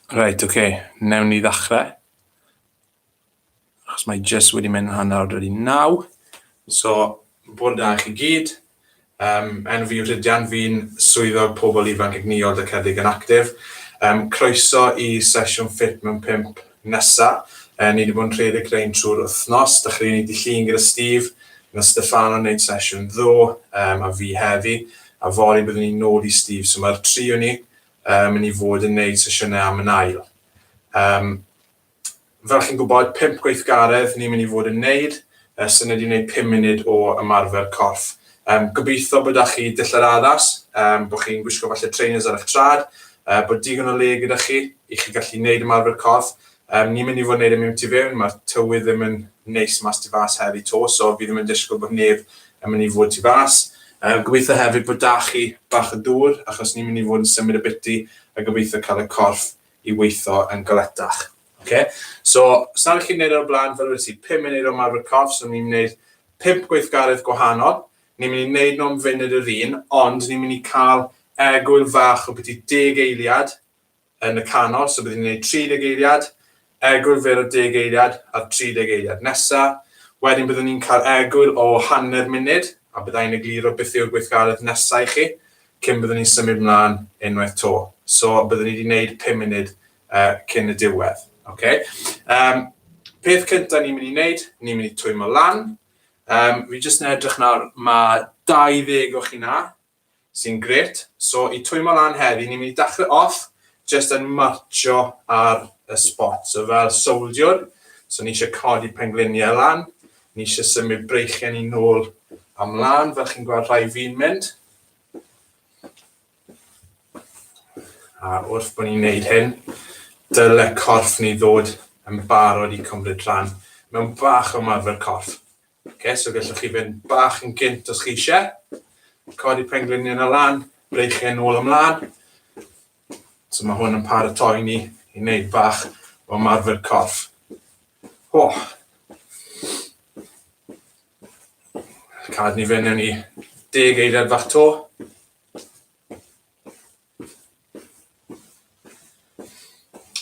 Reit, oce, okay. newn ni ddechrau. Achos mae jyst wedi mynd hanner wedi naw. So, bod da chi gyd. Um, enw fi yw Rhydian, fi'n swyddog pobl ifanc egnïol Dycedig yn Actif. Um, croeso i sesiwn ffit mewn pimp Nesa, yy ni 'di bod yn rhedeg rhein trwy'r wthnos, dych chi 'di llun gyda Steve, ma' Stefano yn neud sesiwn ddo, yym a fi heddi, a fory byddwn ni'n nôl i Steve, so ma'r tri o ni yy myn' i fod yn neud sesiyne am yn ail. Yym fel chi'n gwbod pump gweithgaredd ni myn' i fod yn neud, Ers hynny dwi'n neud pum munud o ymarfer corff. Yym gobeitho bo' 'da chi dillad addas, yym bo' chi'n gwisgo falle trainers ar eich trad, yy bod digon o le gyda chi i chi gallu neud ymarfer corff. Yym ni'n mynd i fod yn neud e mewn tu fewn, ma'r tywydd ddim yn neis mas tu fas heddi 'to, so fi ddim yn disgwl bod neb yn mynd i fod tu fas. Yy gobeitho hefyd bod 'da chi bach o dŵr achos ni'n mynd i fod yn symud abytu a gobeitho ca'l y corff i weitho yn galetach. Ok, so os nad ydych chi'n gwneud e o'r blaen, fel wedes i, pum munud o ymarfer corff, so ni'n mynd i wneud pump gweithgaredd gwahanol, ni'n mynd i wneud nhw'n funud yr un, ond ni'n mynd i cael egwyl fach o biti deg eiliad yn y canol, so byddwn ni'n gwneud 30 eiliad, egwyl fer o deg eiliad a'r 30 eiliad nesa, wedyn byddwn ni'n cael egwyl o hanner munud, a byddai'n egluro beth yw'r gweithgaredd nesa i chi, cyn byddwn ni'n symud mlaen unwaith to. So byddwn ni wedi wneud pum munud cyn y diwedd. Oce? Yym, peth cynta ni'n mynd i wneud, ni'n mynd i twymo lan. Um, fi jyst yn edrych nawr, mae 20 o chi na, sy'n gret. So, i twymo lan heddi, ni'n mynd i dachrau off, jyst yn marcho ar y spot. So, fel soldiwr, so ni eisiau codi pengliniau lan, ni eisiau symud breichiau ni nôl amlan, fel chi'n gweld rhai fi'n mynd. A wrth bod ni'n neud hyn, dyle corff ni ddod yn barod i cymryd rhan mewn bach o ymarfer corff. Okay, so gallwch chi fynd bach yn gynt os chi eisiau. Codi pengliniau yna lan, breichau yn ôl ymlaen. So mae hwn yn paratoi ni i wneud bach o ymarfer corff. O! Cad ni fynd yn i deg eiliad fach to.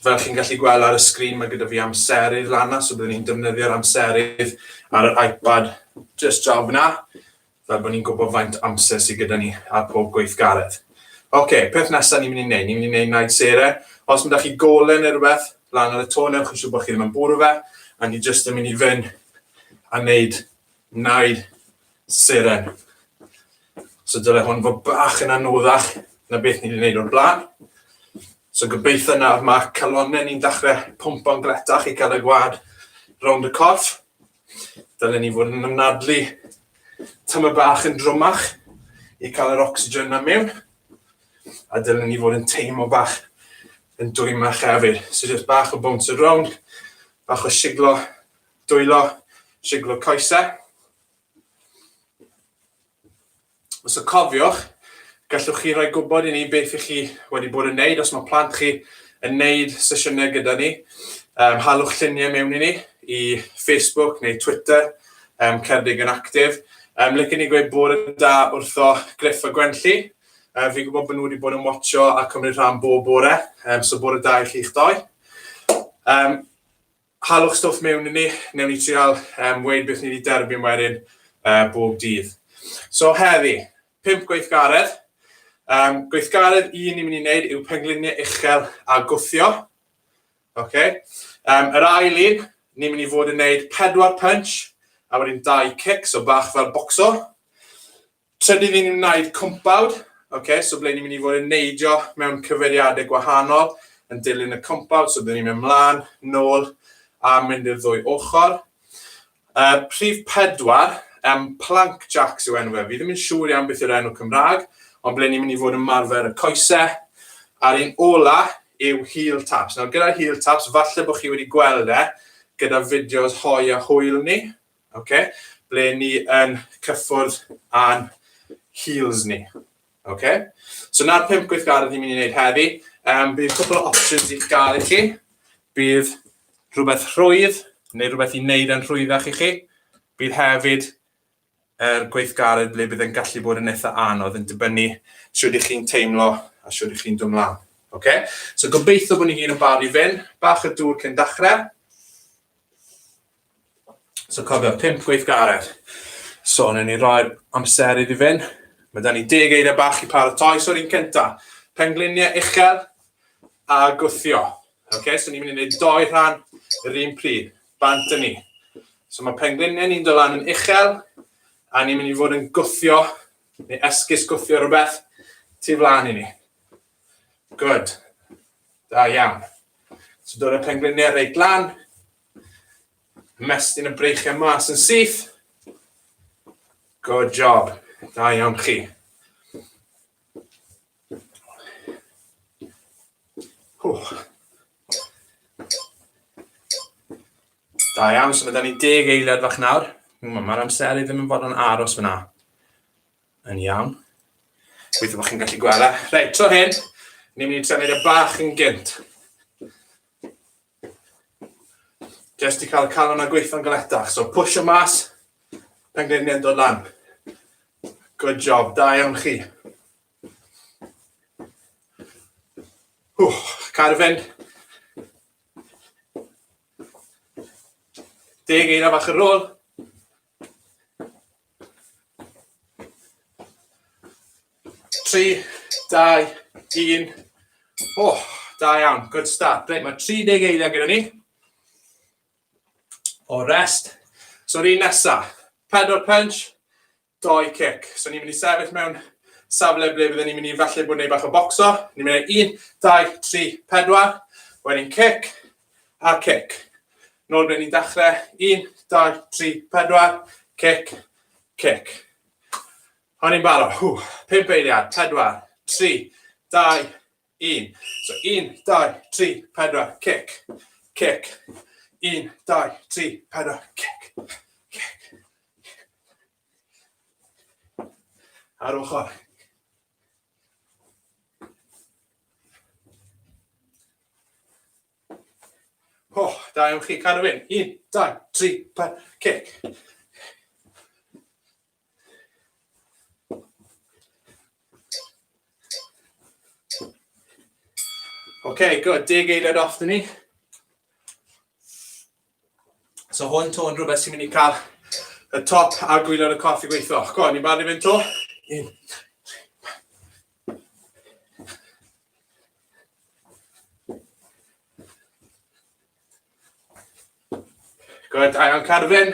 Fel chi'n gallu gweld ar y sgrin, mae gyda fi amserydd lana, so byddwn ni'n defnyddio'r amserydd ar yr iPad just draw fyna, fel bod ni'n gwybod faint amser sydd gyda ni ar pob gweithgaredd. Oce, okay, peth nesaf ni'n mynd i wneud, ni'n mynd i wneud naid sere. Os mae da chi golau neu rhywbeth, lan ar y to, newch yn siŵr bod chi ddim yn bwrw fe, a ni just yn mynd i fynd a wneud naid seren. So dyle hwn fod bach yn anoddach na beth ni wedi gwneud o'r blaen. So gobeithio nawr mae calonau ni'n dechrau pwmpo'n gletach i cael y gwad rownd y corff. Dylen ni fod yn ymnadlu tyma bach yn drwmach i cael yr oxygen na mewn. A dylen ni fod yn teimlo bach yn dwymach hefyd. So jyst bach o bounce around, bach o siglo, dwylo, siglo coesau. Os y cofiwch, gallwch chi roi gwybod i ni beth ych chi wedi bod yn neud. Os mae plant chi yn neud sesiynau gyda ni, um, halwch lluniau mewn i ni i Facebook neu Twitter, um, Cerdig yn Actif. Um, Lycyn ni gweud bod yn da wrtho Griff a Gwenlli. Um, fi'n gwybod bod nhw wedi bod yn watcho a cymryd rhan bob bore, um, so bod yn da i chi'ch doi. Um, Halwch stwff mewn i ni, newn ni trial um, weid beth ni wedi derbyn wedyn uh, bob dydd. So heddi, pimp gweithgaredd. Um, gweithgaredd un ni'n mynd i wneud yw pengliniau uchel a gwthio. Okay. Um, yr ail un, ni'n mynd i fod yn wneud pedwar punch a wedyn dau cic, so bach fel boxo. Trydydd ni'n mynd i wneud cwmpawd, ok, so ble ni'n mynd i fod yn neidio mewn cyfeiriadau gwahanol yn dilyn y cwmpawd, so dyn ni'n mynd mlaen, nôl a mynd i'r ddwy ochr. Uh, prif pedwar, um, plank jacks yw enw fe, fi ddim yn siŵr iawn beth yw'r enw Cymraeg, ond ble ni'n mynd i fod yn marfer y coesau, a'r un ola yw heel taps. Nawr gyda'r heel taps, falle bod chi wedi gweld e gyda fideos hoi a hwyl ni, okay? ble ni yn cyffwrdd â'n heels ni. Okay? So na'r pimp gweithgaredd ni'n mynd i wneud heddi. Um, bydd cwpl o options i'ch gael i chi. Bydd rhywbeth rhwydd, neu rhywbeth i wneud yn rhwyddach i chi. Bydd hefyd er gweithgaredd ble bydd yn gallu bod yn eitha anodd yn dibynnu sydd ydych chi'n teimlo a sydd ydych chi'n dod mlaen. Okay? So gobeithio bod ni gyd yn barod i fynd. Bach y dŵr cyn dachrau. So cofio, 5 gweithgaredd. So, newn ni roi'r amser iddi fynd. Mae da ni deg eiriau bach i paratoi. So'r un cynta, pengliniau uchel a gwthio. Okay, so ni'n mynd i wneud doi rhan yr un pryd. Bant yn ni. So mae pengliniau ni'n dylan yn uchel a ni'n mynd i fod yn gwthio neu esgus gwthio rhywbeth tu flaen i ni. Good. Da iawn. So dod y pengliniau reit lan, Ymestyn y breichiau mas yn syth. Good job. Da iawn chi. Wch. Da iawn, so mae da ni deg eiliad fach nawr. Mae'r amser i ddim yn fod yn aros fyna. Yn iawn. Gweithio bod chi'n gallu gwella. Reit, tro hyn, ni'n mynd i trefnu'r bach yn gynt. Jyst i cael y calon a gweithio'n galetach. So push o mas, pengliniau'n dod lan. Good job, da iawn chi. Wch, cael fynd. Deg eira fach ar ôl. Tri, dau, un. O, oh, da iawn. Good start. Reit, mae 30 eiliad gyda ni. O rest. So'r un nesa. Pedal punch, doi cic. So ni'n mynd i sefyll mewn safle ble byddwn ni'n mynd i falle bod neu bach o boxo. Ni'n mynd i un, dau, tri, pedwar. Wedyn cic, a cic. Nôl ble ni'n dechrau. Un, dau, tri, pedwar. Cic, cic. O'n i'n barod. Hw, pimp eiliad. Pedwar, tri, dau, un. So, un, dau, tri, pedwar, cic, cic. Un, dau, tri, pedwar, cic, cic. Ar ochr. O, oh, da iawn chi, cael ei Un, dau, tri, pa, cic. OK, good. Deg eiliad off ni. So hwn to yn rhywbeth sy'n mynd i cael y top a gwylio'r y corff i gweithio. Go, ni'n barod i fynd to. Un. Good, Ion Carfyn.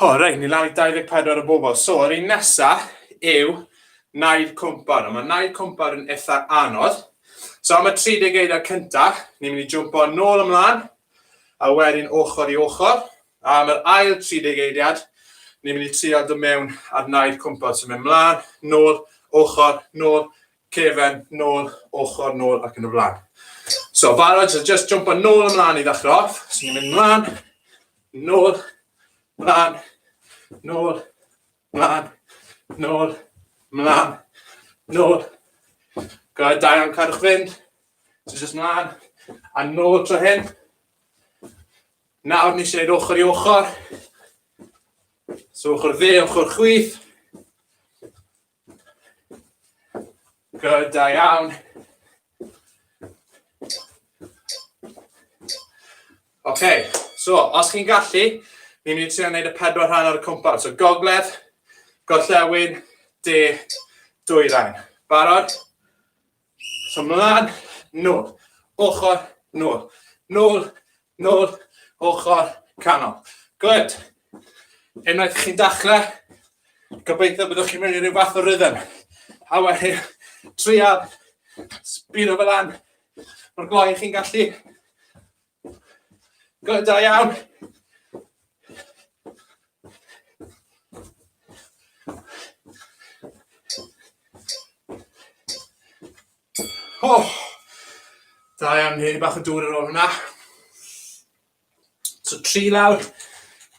O, oh, reit, ni lawr i 24 o bobl. So, yr un nesa yw Naid Cwmpar. Mae Naid Cwmpar yn eitha anodd. So, am y 30 eiddo cyntaf, ni'n mynd i jwmpo nôl ymlaen, a wedyn ochr i ochr. A am yr ail 30 eidiad, ni'n mynd i trio dod mewn ar naid cwmpar. So, mynd mlaen, nôl, ochr, nôl, cefen, nôl, ochr, nôl ac yn y flaen. So, barod, so just jump yn nôl ymlaen i ddechrau off. So, ni'n mynd mlaen, Nôl, mlan, nôl, mlan, nôl, mlan, nôl. Go ahead Diane, cadwch fynd. So just mlan, a nôl tro hyn. Nawr ni eisiau gwneud ochr i ochr. So ochr dde, ochr chwith. Good, da iawn. OK, so os chi'n gallu, ni'n mynd i trio gwneud y pedwar rhan ar y cwmpas. So gogledd, gorllewin, de, dwy rhan. Barod? So mlaen, nôl, ochr, nôl, nôl, nôl, ochr, canol. Good. Unwaith chi'n dachle, gobeithio byddwch chi'n mynd i ryw fath o rhythm. A wedi trial sbino fel an, mor gloi chi'n gallu. Good, da iawn. Oh, da iawn, hyn i bach o dŵr ar ôl hwnna. So tri lawr,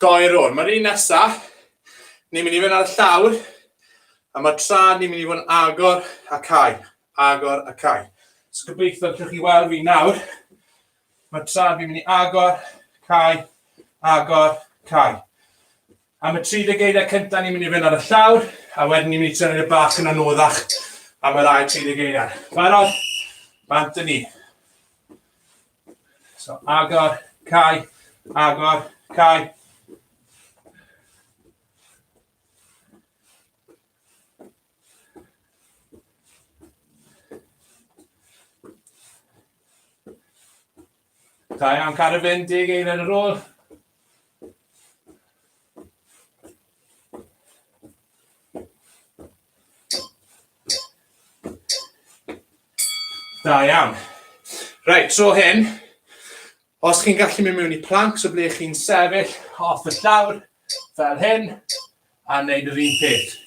doi ar ôl. Mae'r un nesaf, ni'n mynd i fynd ar y llawr, a mae tra ni'n mynd i fod yn agor a cael. agor a cau. So gobeithio allwch chi weld fi nawr. Mae tra fi'n mynd i agor, cau, agor, cau. Am y 30 geiriau cyntaf ni'n mynd i fynd ar y llawr, a wedyn ni'n mynd i trefnu y bach yn anoddach am yr ail 30 geiriau. Barod? Bant ni. So agor, cau, agor, cau. Da iawn, cadw fynd, deg eiliad ar ôl. Da iawn. Rhaid, tro hyn, os chi'n gallu mynd mewn i plank, so ble chi'n sefyll off y llawr, fel hyn, a wneud yr un peth.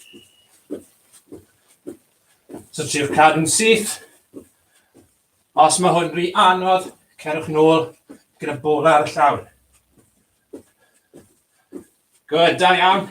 So triwch cadw'n syth. Os mae hwn rhy anodd, cerwch nôl gyda bol ar y llawr. Good, da iawn.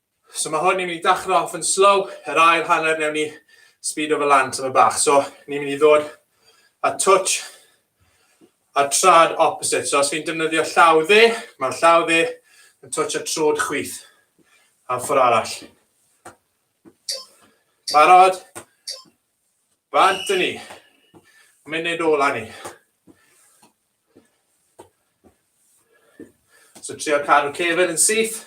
So mae hwn ni'n mynd i dachrau off yn slow, yr ail hanner newn ni speed over lan tyma bach. So ni'n mynd i ddod a touch a trad opposite. So os fi'n defnyddio llaw dde, mae'r llaw dde yn touch a trod chwith. A ffwr arall. Barod? Bant i ni. Munud ola ni. So trio cadw cefn yn syth.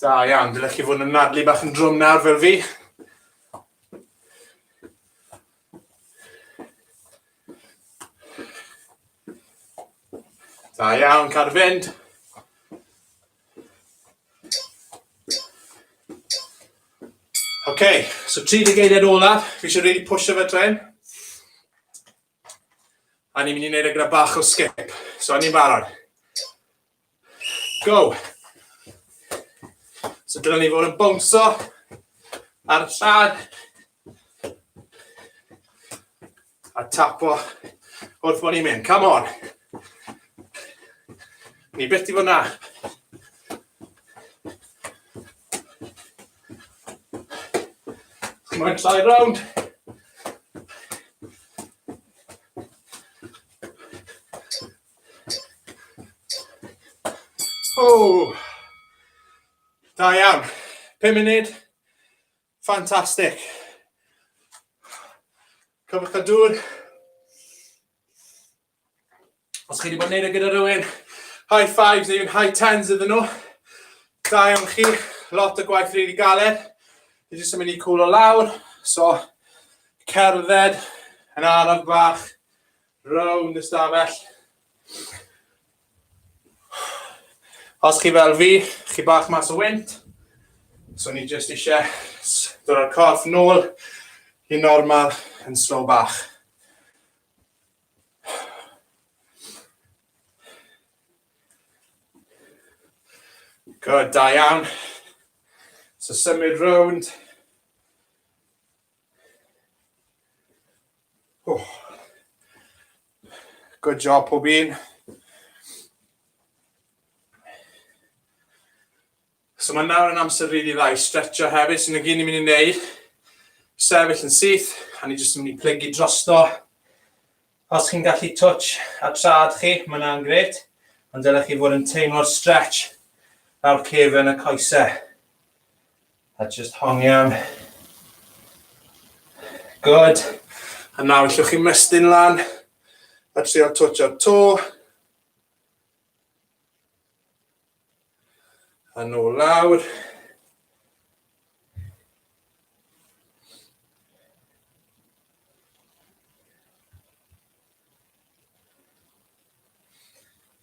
Da iawn, dylech chi fod yn nadlu bach yn drwm nawr fel fi. Da iawn, cadw fynd. Ok, so 30 eiliad olaf, fi eisiau really pwysio fe dren. A ni'n mynd i wneud e gyda bach o skip. So, a ni'n barod. Go! So, dyna ni fod yn bownso ar y llad. A tapo wrth bod ni'n mynd. Come on. Ni beth i fod na. Mae'n llai round. O! Da iawn. 5 munud. Fantastic. Cofwch a dŵr. Os chi wedi bod yn neud e gyda rhywun, high fives neu'n high tens iddyn nhw. Da iawn chi, lot o gwaith rili galed. Dwi jyst yn mynd i cwlo lawr, so cerdded yn araf bach round y stafell. Os chi fel fi, chi bach mas o wynt, so ni jyst eisiau dod o'r corff nôl i normal yn slow bach. Good, da iawn. So symud rownd. Oh. Good job pob un. So mae nawr yn amser rili really dda i stretcho hefyd, sy'n so, gyn i'n mynd i wneud. Sefyll yn syth, a ni jyst yn mynd i plygu drosto. Os chi'n gallu touch a trad chi, mae yna'n gret, ond dylech chi fod yn teimlo'r stretch lawr cefn y coesau. A just hongian. Good. A nawr allwch chi mestyn lan a trio twtio'r to. A nôl lawr.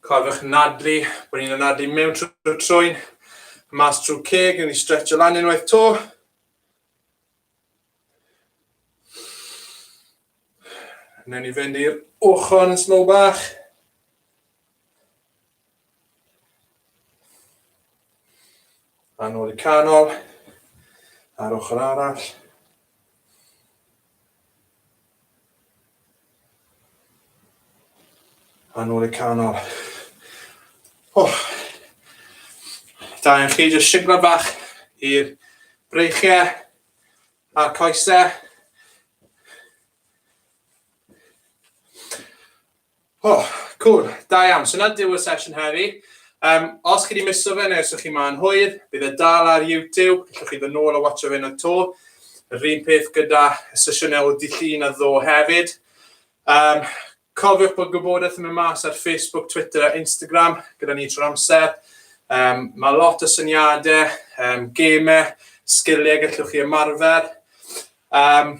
Cofiwch nadlu, bod ni'n anadlu mewn trwy'r trwyn, mas trwy ceg, yn ni stretch o lan unwaith to. Newn ni fynd i'r ochr yn slow bach. A nôl y canol, ar ochr arall. A nôl y canol. Oh. Da, yn chi jyst siglo bach i'r breichiau a'r coesau. O, oh, cool. Da iawn. So na diw'r sesiwn heddi. Um, os chi wedi miso fe neu os ydych chi ma'n hwyr, bydd e dal ar YouTube. Ydych chi ddod nôl a watcho fe na to. Yr un peth gyda y sesiynau o dillun a ddo hefyd. Um, cofiwch bod gwybodaeth yn mynd mas ar Facebook, Twitter a Instagram gyda ni trwy'r amser. Um, mae lot o syniadau, um, gemau, sgiliau gallwch chi ymarfer. Um,